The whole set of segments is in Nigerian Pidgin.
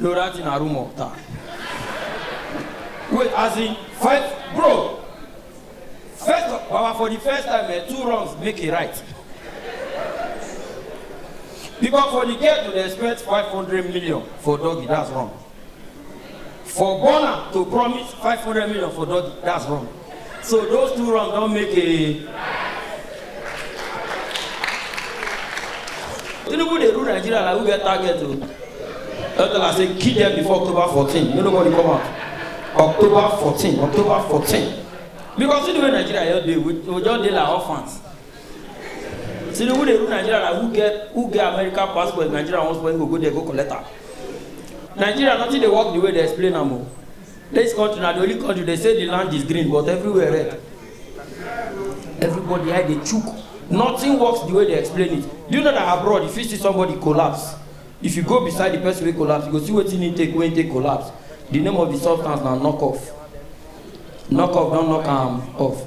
Lorati na rumor ta. Wait, as in fight, bro. First, of- Baba, for the first time, eh, two wrongs make a right. Because for the girl to dey expect 500 million for doggy, that's wrong. For Burna to promise 500 million for Doggy, that's wrong. So those two wrong don't make a. Tinubu dey rule Nigeria like who get target o. That's why I say kill them before October 14. No nobody come out. October 14, October 14. Because see the way Nigeria just dey, we we just dey like orphans. tinubu dey rule nigeria na who get who get american passport nigeria wan spoil go go there go collect am nigeria nothing dey work the way dey explain am o this country na the only country dey say the land is green but everywhere red everybody eye dey chook nothing works the way dey explain it do you know that abroad you fit see somebody collapse if you go beside the person wey collapse you go see wetin he take wey he take collapse the name of the substance na knock off knock off don knock am off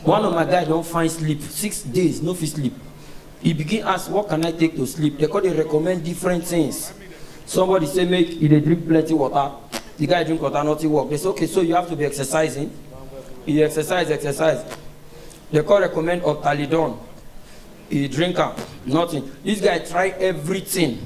One of my guy don find sleep six days no fit sleep. He begin ask what can I take to sleep? They come dey recommend different things. Somebody say make he dey drink plenty water. The guy drink water nothing work. They say okay so you have to be exercising. He exercise exercise. They come recommend Optalidon. He drink am nothing. This guy try everything.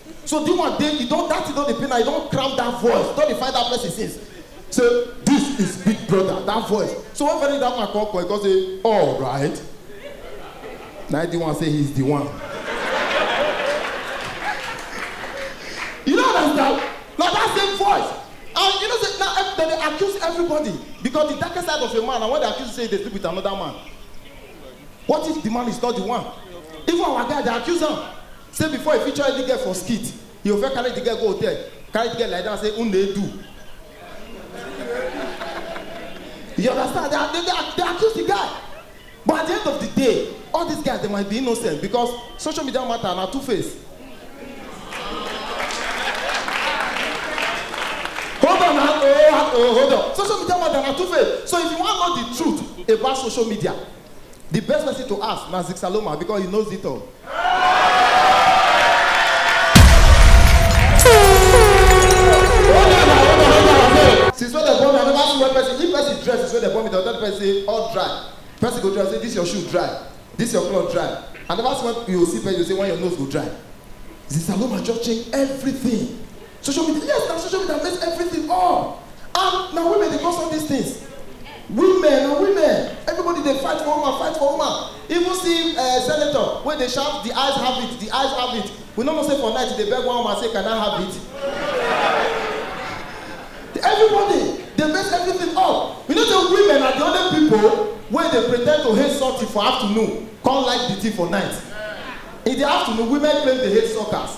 so the one dey e don that thing don dey pain am e don cram that voice don dey find that person since say this is big brother that voice so when very that man come call e come say all right na the one say he is the one you no understand na that same voice and you know say na ev- dem dey accuse everybody because the darkest side of a man na when they accuse you say you dey sleep with another man what if the man is not the one even our guy dey accuse am Say before he feature any girl for skit, he go first carry the girl go hotel, carry the girl lie down say who dey do. You understand? They, are- they, they, are- they accuse the guy. But at the end of the day, all these guys they might be innocent because social media matter na two face. Hold on, na- oh, ah, oh, hold on. Social media matter na two face. So if you wan know the truth about social media, the best person to ask na Zixaloma because he knows it all. since when dem born me i never see one person if person dress since when dem born me dem tell the person say all dry person go dress say this your shoe dry this your cloth dry i never see one you go see person you go say when your nose go dry zisaloma just change everything Social media, yes, na social media mess everything up. And na women dey cause all these things. Women, na women, everybody dey fight for woman, fight for woman. Even see uh, senator wey dey shout, the eyes have it, the eyes have it. We no know say for night he dey beg one woman say, can I have it? Everybody dey mess everything up. You know say women are the only people wey dey pretend to hate something for afternoon, come like the thing for night. In the afternoon, women claim they hate suckers.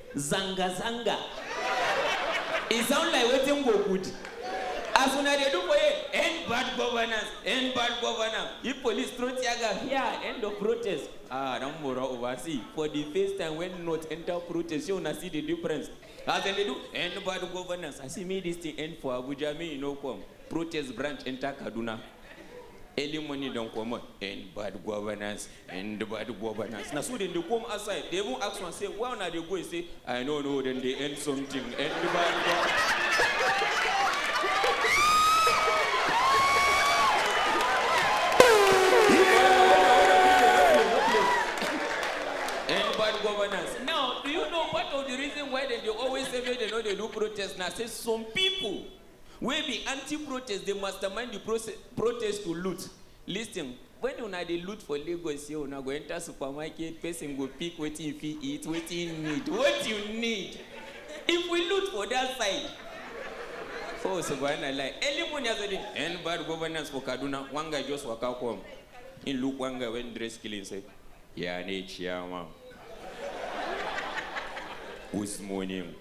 Zanga zanga e sound like wetin go good as una dey do for here end bad governance end bad governance if police throw tear gas here end of protest ah don mora over see for the first time when north enter protest shey una see the difference as dem dey do end bad governance i say make this thing end for abuja make e no come protest branch enter kaduna. early morning don comot in bad governance in the bad governance na so dem dey come outside dey even ask one say where una dey go he say i no know dem dey end something end the bad governance. and bad governance. Now, do you know part of the reason why dem dey always say make dem no dey do protest na say some people wey be anti-protest dey mastermind di protest to loot, listing, wen una dey loot for Lagos here una go enter supermarket person go pick wetin e fit eat, wetin e need, what you need if we loot for dat side oh subhanallah early morning as I dey end bad governance for Kaduna one guy just waka come e look one guy wen dress clean say ya ne chairman? Guzmonim.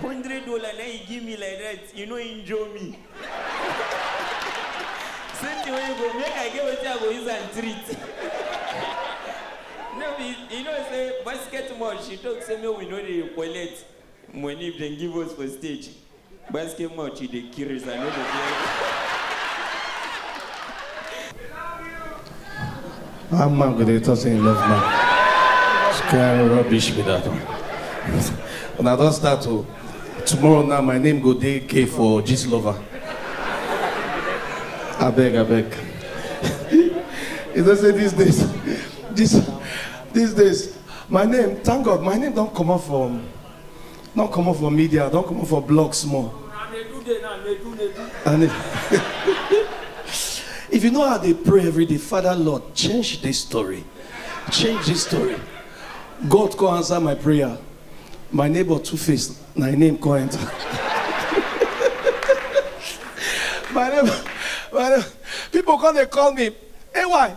hundred dollar na you give me like that you no injure me same thing wey you go make i get wetin i go use am treat no be you know say basketball she talk say make we no dey collect money if dem give us for stage Gbesike much you dey curious, I no dey hear. How man go dey talk say he love man? Which kind rubbish be that one? Una don start o. Tomorrow now my name go dey K for gist lover. Abeg abeg. You know say these days, this these days, my name, thank God, my name don comot from Don comot for media, don comot for blog small. Na nedu dey na nedu nedu. And if, if you know how they pray every day, Father Lord, change this story. Change this story. God come answer my prayer. My neighbor two face, my name come enter. my neighbor, my neighbor, people come they call me, AY,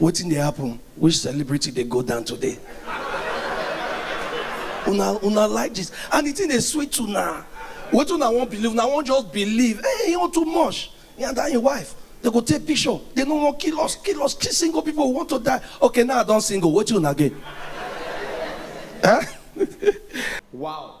Wetin dey happen? Which celebrity dey go down today? Una una like gist and the thing dey sweet una. Wetin una wan believe? Una wan just believe. Hey, you too much. He and that him wife, they go take picture. They no wan kill us, kill us. Kill single people who want to die. Okay, now I don single. Wetin una get? Eh? Wow.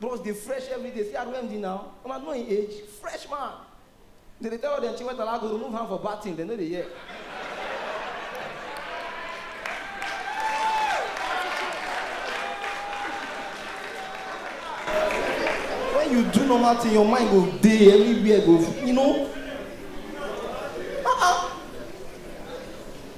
Bros dey fresh everyday see as Wemdy now una know him age fresh man dem dey tell all dem Chiwetala go remove hand for batting dem no dey hear. When you do normal thing your mind go dey everywhere go you know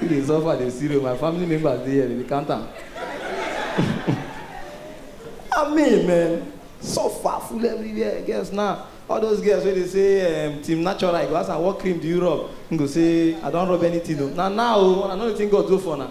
You dey suffer, dey see my family members dey here, dey count am. I mean, man, suffer full everywhere. Girls now, all those girls wey dey say um, team natural, I go ask am what cream do you rub? He go say I don rub anything o. Na now o, I no know wetin God do for una.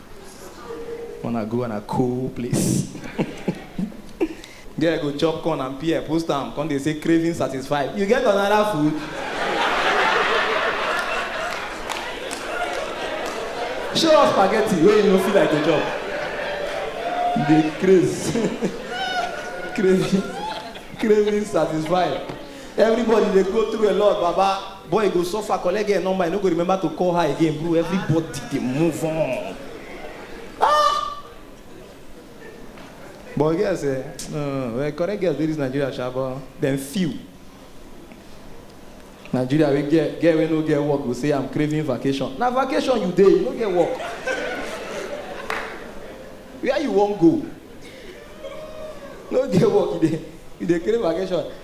Wanna go on a cool place. Girl go chop corn and pear, post am, come dey say craving satisfied. You get another food? Show us spaghetti wey you no feel like to chop. You dey craze. craving, craving satisfied. Everybody dey go through a lot, Baba. Boy go suffer collect girl number e no go remember to call her again bro everybody dey move on. Ah! But girl say no no no well correct girls dey this Nigeria sha but dem few. Nigeria wey girl girl wey no get work go say I'm craving vacation na vacation you dey you no get work. Where you wan go? No get work you dey you dey crave vacation.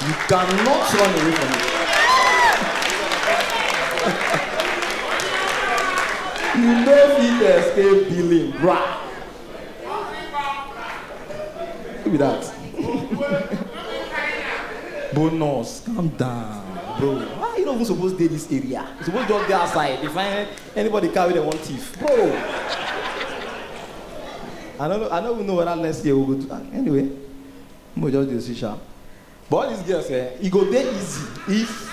You cannot run away from it. you no fit escape billing, bruh. Who be that? Bonus, calm down, bro. Why you no even suppose dey this area? You suppose just dey outside, dey find anybody car wey dem wan thief, bro. I no know, I no even know whether next year we go do am. Anyway, we go just dey see sha. But all these girls eh, e go dey easy if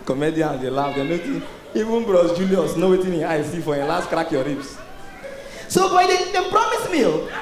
comedians dey laugh, dem no think even bros Julius know wetin him eye see for him last crack your ribs. So boy, they, they promise me, oh.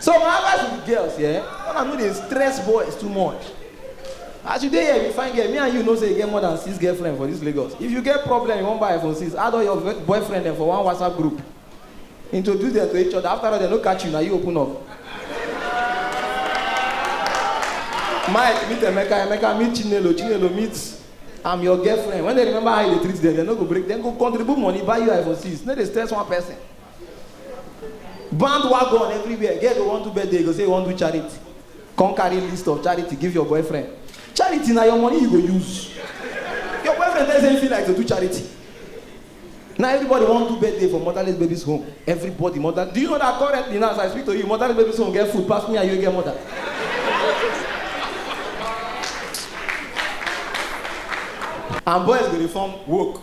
So my advice to the girls, yeah, when I know they stress boys too much. As you dey here, you find girl, me and you know say you get more than six girlfriend for this Lagos. If you get problem, you wan buy iPhone 6, add all your ve- boyfriend dem for one WhatsApp group. Introduce them to each other. After all, they no catch you, na you open up. Mike meet Emeka, Emeka meet Chinelo, Chinelo meet I'm your girlfriend. When they remember how you dey treat them, they no go break. Dem go contribute money, buy you iPhone 6. No dey stress one person. bandwagon everywhere girl go wan do birthday go say you wan do charity come carry list of charity give your boyfriend charity na your money you go use your boyfriend tell you say you feel like to do charity na everybody wan do birthday for motherless babies home everybody mother do you know that currently now as i speak to you motherless babies home get food pass me and you get mother and boys go dey form woke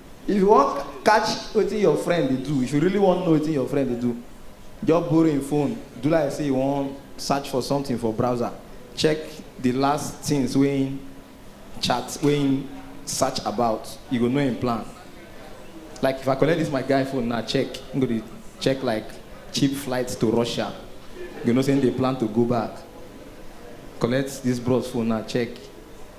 If you wan catch wetin your friend dey do, if you really wan know wetin your friend dey do, just borrow im phone, do like say you wan search for something for browser, check the last things wey im chat, wey im search about, you go know im plan. Like if I collect this my guy phone now check, im go dey check like cheap flights to Russia, you go know say im dey plan to go back. Collect this bros phone now check.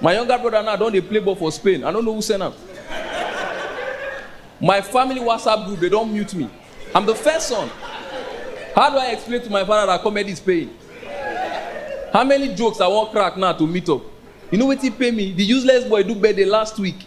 My younger brother now don dey play ball for Spain. I no know who send am. My family WhatsApp group, they don mute me. I'm the first son. How do I explain to my father that comedy is paying? How many jokes I wan crack now to meet up? You know wetin pain me? The useless boy do birthday last week.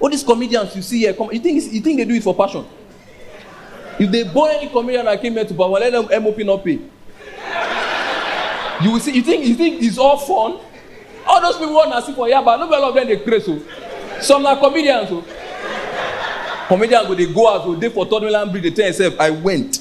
All these comedians you see here, come, you think it's- you think they do it for passion? If they bore any comedian that came here to Bawa, let them MOP not pay. You will see. You think you think it's all fun? All those people want to see for Yaba. No be all of them dey craze o. Some na comedians o. Comedians go dey go out o dey for third mainland bridge dey tell himself I went.